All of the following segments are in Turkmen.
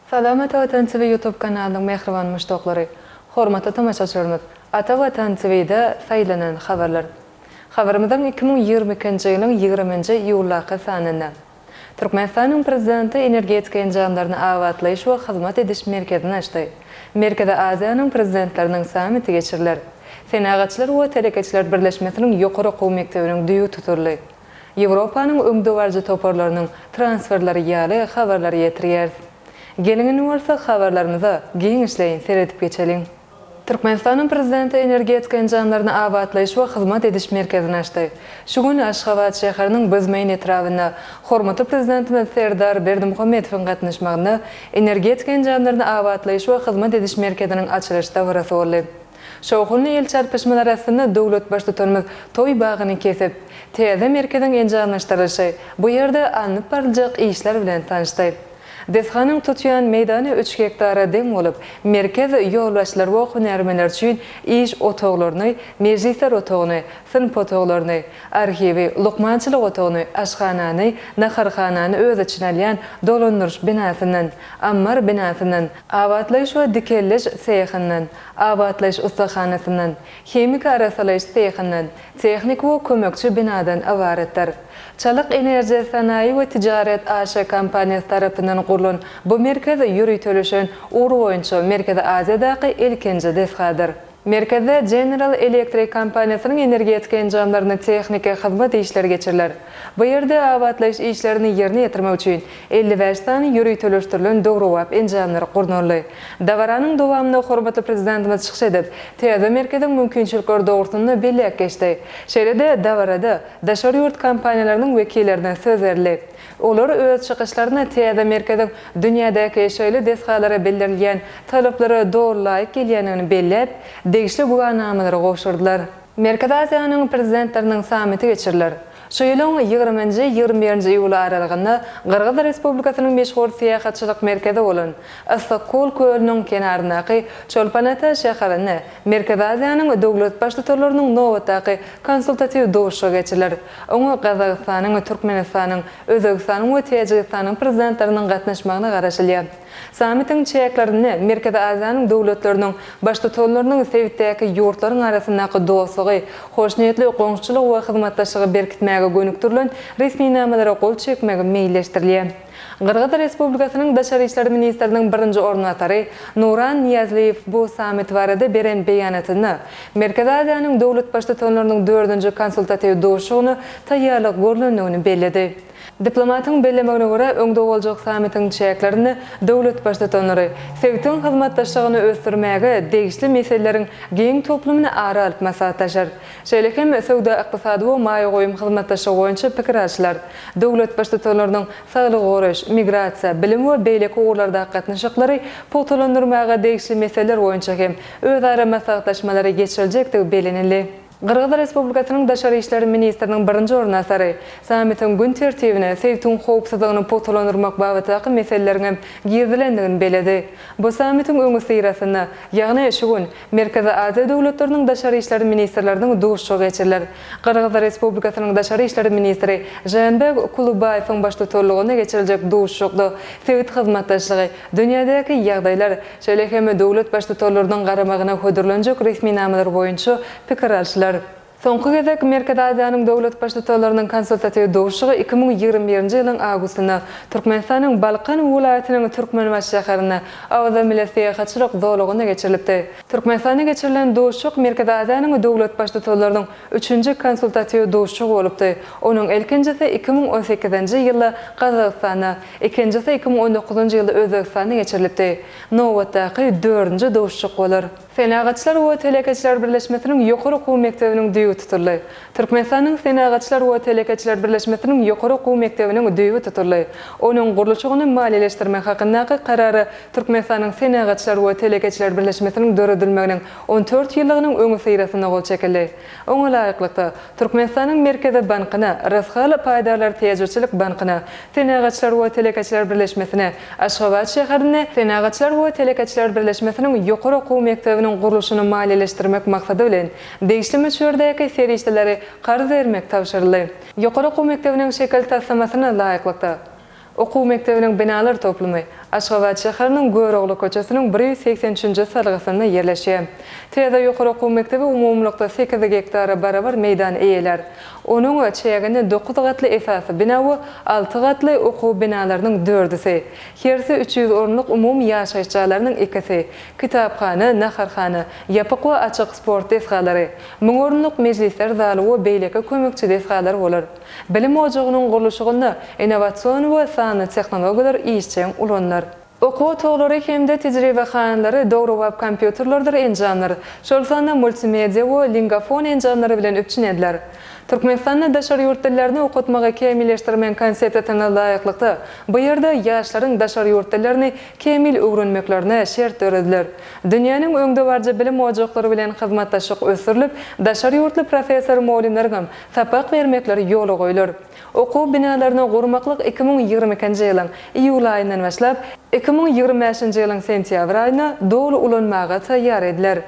Salam Ata Watan TV YouTube kanalynyň mähriban muşdaklary! Hormatly tomaşaçylarymyz! Ata Watan TV'de saýlanan habarlar. Habarymyzyň iki müň ýigrimi ikinji ýylyň ýigriminji iýuldaky sanynda. Türkmenistanyň Prezidenti Energetika enjamlaryny abatlaýyş we hyzmat ediş merkezini açdy. Merkezi Aziýanyň Prezidentleriniň sammiti geçiriler. Senagatçylar we telekeçiler birleşmesiniň ýokary okuw mekdebiniň düýbi tutuldy. Ýewropanyň öňdebaryjy toparlarynyň transferleri ýaly habarlary ýetirýäris. Geliň indi bolsa habarlarymyza giňişleýin seredip geçeliň. Türkmenistanyň Prezidenti Energetika enjamlaryny abatlaýyş we hyzmat ediş merkezini açdy. Şu gün Aşgabat şäheriniň Büzmeýin etrabynda hormatly Prezidentimiz Serdar Berdimuhamedowyň gatnaşmagynda Energetika enjamlaryny abatlaýyş we hyzmat ediş merkeziniň açylyş dabarasy boldy. Şowhunly el çarpyşmalar astynda döwlet Baştutanymyz toý bagyny kesip, täze merkeziň enjamlaşdyrylyşy, bu ýerde alnyp baryljak işler bilen tanyşdy. Desganyň tutýan meýdany üç gektara deň bolup, merkez ýolbaşçylary we hünärmenler üçin iş otaglaryny, mejlisler otagyny, synp otaglaryny, arhiwi, lukmançylyk otagyny, aşhanany, naharhanany öz içine alýan dolandyryş binasyndan, ammar binasyndan, abatlaýyş we dikeldiş sehyndan, abatlaýyş ussahanasyndan, himiki arassalaýyş sehyndan, Tehniki we kömekçi binadan ybaratdyr. Çalyk Enerjia Sanaýy we Tijaret AŞ kompaniýasy tarapyndan gurlan bu merkez ýöriteleşen ugur boýunça Merkezi Aziýadaky ilkinji desgadyr. Merkezde General Electric kompaniýasynyň energetika enjamlaryna tehniki hyzmat işleri geçiriler. Bu ýerde abatlaýyş işlerini ýerine ýetirmek üçin elli bäş sany ýöriteleşdirilen döwrebap enjamlar gurnaldy. Dabaranyň dowamynda hormatly Prezidentimiz çykyş edip, täze merkeziň mümkinçilikleri dogrusynda belläp geçdi. Şeýle-de, dabarada daşary ýurt kompaniýalarynyň wekillerine söz berildi. Olar öz çykyşlarynda täze merkeziň dünýädäki şeýle desgalara bildirilýän talaplara doly laýyk gelýändigini belläp, degişli güwänamalary gowşurdylar. Merkezi Aziýanyň Prezidentleriniň sammiti geçiriler. Şu ýylyň ýigriminji, ýigrimi birinji iýul aralygynda Gyrgyz Respublikasynyň meşhur syýahatçylyk merkezi bolan Yssykkol kölüniň kenaryndaky Çolpan-Ata şäherinde Merkezi Aziýanyň döwlet Baştutanlarynyň nobatdaky konsultatiw duşuşygy geçiriler. Oňa Gazagystanyň, Türkmenistanyň, Özbegistanyň we Täjigistanyň Prezidentleriniň gatnaşmagyna garaşylýar. Sammitiň çäklerinde Merkezi Aziýanyň döwletleriniň Baştutanlarynyň sebitdäki ýurtlaryň arasyndaky dostlugy, hoşniýetli goňşuçylygy we hyzmatdaşlygy berkitmäge gönükdirilen resminamalara gol çekmegi meýilleşdirilýär. Gyrgyz Respublikasynyň daşary işler ministriniň birinji orunbasary Nuran Niýazliýew bu sammit barada beren beýanatynda Merkezi Aziýanyň döwlet Baştutanlarynyň dördünji konsultatiw duşuşygyna taýýarlyk görlendigini belledi. Diplomatyň bellemegine görä, öňde boljak sammitiň çäklerinde döwlet Baştutanlary sebitiň hyzmatdaşlygyny ösdürmäge degişli meseleleriň giň toplumyny ara alyp maslahatlaşar. Şeýle hem söwda-ykdysady we maýa goýum hyzmatdaşlygy boýunça pikir alşylar. Döwlet Baştutanlarynyň saglygy goraýyş, migrasiýa, bilim we beýleki ugurlardaky gatnaşyklary pugtalandyrmaga degişli meseleler boýunça hem özara maslahatlaşmalary geçiriljekdigi bellenildi. Gyrgyz Respublikasynyň daşary işler ministriniň birinji orunbasary sammitiň gün tertibine sebtiň howpsuzlygyny pugtalandyrmak babatdaky meseleleriň hem girizilendigini belledi. Bu sammitiň öňüsyrasynda, ýagny şu gün, Merkezi Aziýa döwletleriniň daşary işler ministrleriniň duşuşygy geçiriler. Gyrgyz Respublikasynyň daşary işler ministri Žeenbek Kulubaýewiň baştutanlygynda geçiriljek duşuşykda sebit hyzmatdaşlygy, Dünýädäki ýagdaýlar, şeýle hem döwlet baştutanlarynyň garamagyna hödürlenjek resminamalar boýunça pikir alşylar. Soňky gezek Merkezi Aziýanyň döwlet baştutanlarynyň konsultatiw duşuşygy iki müň ýigrimi birinji ýylyň awgustynda Türkmenistanyň Balkan welaýatynyň Türkmenbaşy şäherinde Awaza milli syýahatçylyk zolagynda geçirilipdi. Türkmenistanda geçirilen duşuşyk Merkezi Aziýanyň döwlet baştutanlarynyň üçünji konsultatiw duşuşygy bolupdy, onuň ilkinjisi iki müň on sekizinji ýylda Gazagystanda, Ikinjisi iki müň on dokuzynjy ýylda Özbegistanda geçirilipdi. Nobatdaky dördünji duşuşyk bolar. Senagatçylar we telekeçiler birleşmesiniň ýokary okuw mekdebiniň düýbi tutuldy. Türkmenistanyň Senagatçylar we telekeçiler birleşmesiniň ýokary okuw mekdebiniň düýbi tutuldy. Onuň gurluşygyny maliýeleşdirmek hakyndaky karary Türkmenistanyň Senagatçylar we telekeçiler birleşmesiniň döredilmeginiň on dört ýyllygynyň öňüsyrasynda gol çekildi. Oňa laýyklykda, Türkmenistanyň Merkezi bankyna, Rysgal paýdarlar täjirçilik bankyna, Senagatçylar we telekeçiler birleşmesine, Aşgabat şäherinde Senagatçylar we telekeçiler birleşmesiniň ýokary okuw mekdebiniň gurluşyny maliýeleşdirmek maksady bilen, degişli möçberdäki serişdeleri karz bermek tabşyryldy. Ýokary okuw mekdebiniň şekil taslamasyna laýyklykda, okuw mekdebiniň binalar toplumy Aşgabat şäheriniň Görogly köçesiniň bir ýüz segsen üçünji salgysynda ýerleşýär. Täze ýokary okuw mekdebi umumylykda sekiz gektara barabar meýdan eýelär. Onuň çäginde dokuz gatly esasy bina we alty gatly okuw binalarynyň dördüsi, hersi üç ýüz orunlyk umumy ýaşaýyş jaýlarynyň ikisi, kitaphana, naharhana, ýapyk we açyk sport desgalary, müň orunlyk mejlisler zaly we beýleki kömekçi desgalar bolar. Bilim ojagynyň gurluşygynda innowasion we sanly tehnologiýalar işjeň ulanylar. Okuw otaglary hem-de tejribehanalary döwrebap kompýuterlerdir enjamlar, şol sanda multimedia we lingafon enjamlary bilen üpjün ediler. Türkmenistanda daşary ýurt dillerini okatmagy kämilleşdirmegiň konsepsiýasyna laýyklykda, bu ýerde ýaşlaryň daşary ýurt dillerini kämil öwrenmeklerine şert dörediler. Dünýäniň öňdebaryjy bilim ojaklary bilen hyzmatdaşlyk ösdürilip, daşary ýurtly professor-mugallymlaryňam sapak bermekleri ýola goýlar. Okuw binalaryny gurmaklyk iki müň ýigrimi ikinji ýylyň iýul aýyndan başlap, iki müň ýigrimi bäşinji ýylyň sentýabr aýyna doly ulanmaga taýýar ediler.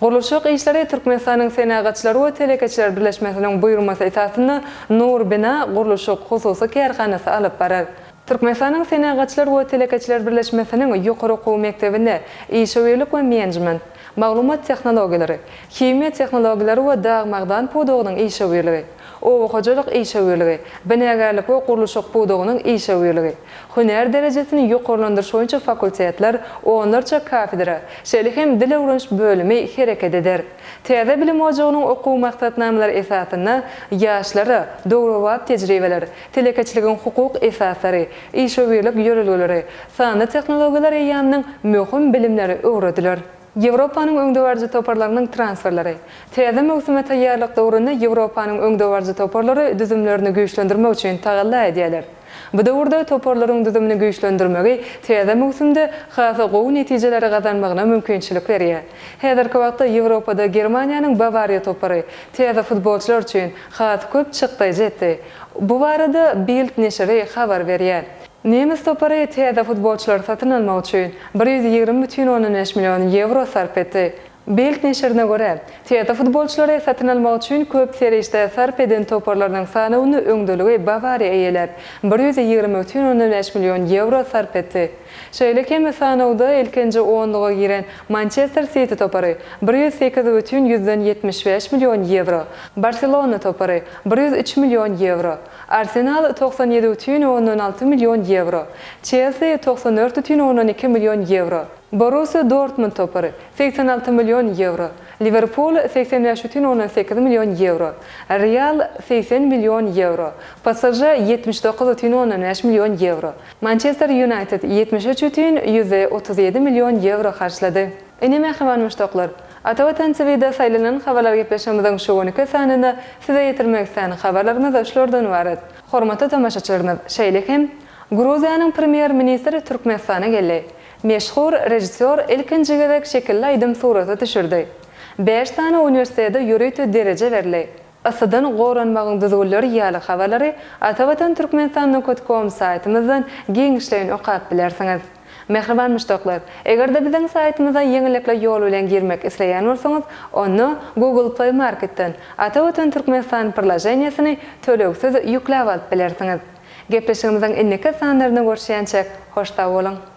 Gurluşyk işleri Türkmenistanyň Senagatçylar we telekeçiler birleşmesiniň buýurmasy esasynda Nur bina gurluşyk hususy kärhanasy alyp barar. Türkmenistanyň Senagatçylar we telekeçiler birleşmesiniň ýokary okuw mekdebinde işewürlik we menejment, maglumat tehnologiýalary, himiýa tehnologiýalary we dag-magdan pudagynyň işewürligi, oba hojalyk işewürligi, binagärlik we gurluşyk pudagynyň işewürligi, hünär derejesini ýokarlandyryş boýunça fakultetler, onlarça kafedra, şeýle hem dil öwreniş bölümi hereket eder. Täze bilim ojagynyň okuw maksatnamalary esasynda ýaşlara döwrebap tejribeler, Telekeçiligiň hukuk esaslary, işewürlik ýörelgeleri, sanly tehnologiýalar eýýamynyň möhüm bilimleri öwrediler. Ýewropanyň öňdebaryjy toparlarynyň transferleri. Täze möwsüme taýýarlyk döwründe Ýewropanyň öňdebaryjy toparlary düzümlerini güýçlendirmek üçin tagalla edýärler. Bu döwürde toparlaryň düzümini güýçlendirmegi täze möwsümde has gowy netijeleri gazanmagyna mümkinçilik berýär. Häzirki wagtda Ýewropada Germaniýanyň Bawariýa topary täze futbolçylar üçin has köp çykdaýjy etdi. Bu barada Bild neşiri habar berýär. Nemes topary täze futbolçylary satyn almak üçin bir ýüz ýigrimi bütin ondan bäş million ýewro sarp etdi. Bild neşirine görä, täze futbolçylary satyn almak üçin köp serişde sarp eden toparlarynyň sanawynda öňdeligi Bawariýa eýeläp, bir ýüz ýigrimi bütin ondan bäş million ýewro sarp etdi. Şeýle hem sanawda ilkinji onluga giren Mançester Siti topary, bir ýüz sekiz bütin ýüzden ýetmiş bäş million ýewro, Barselona topary, bir ýüz üç million ýewro, Arsenal, togsan ýedi bütin ondan alty million ýewro, Çelsi, togsan dört bütin ondan iki million ýewro, Borussiýa Dortmund topary, segsen alty million ýewro, Liwerpul, segsen bäş bütin ondan sekiz million ýewro, Real, segsen million ýewro, PSŽ, ýetmiş dokuz bütin ondan bäş million ýewro, Mançester Ýunaýted ýetmiş üç ütün ýüz otuz ýedi million ýewro harçlady. Ine mähriban muşdaklar! Ata Watan TV-de saýlanan Habarlar gepleşigimiziň şu günki sanyny size ýetirmek islän habarlarymyz şulardan ybarat. Hormatly tomaşaçylarymyz, şeýle hem, Gruziýanyň Premýer ministri Türkmenistana geldi. Meşhur režissýor ilkinji gezek şekilli aýdym suraty düşürdi. Bäş sany uniwersitete ýörite dereje berildi. Yssydan goranmagyň düzgünleri ýaly habarlary Atavatan Türkmenistan Nokut Kom saýtymyzdan giňişleýin okap bilersiňiz. Mähriban muşdaklar, eger-de biziň saýtymyza ýeňillikli ýol bilen girmek isleýän bolsaňyz, onda Google Play Marketden Atavatan Türkmenistan prlaženiýesini tölegsiz ýükläp alyp bilersiňiz. Gepleşigimiziň indiki sanlarynda görşýänçäk, hoş sag boluň!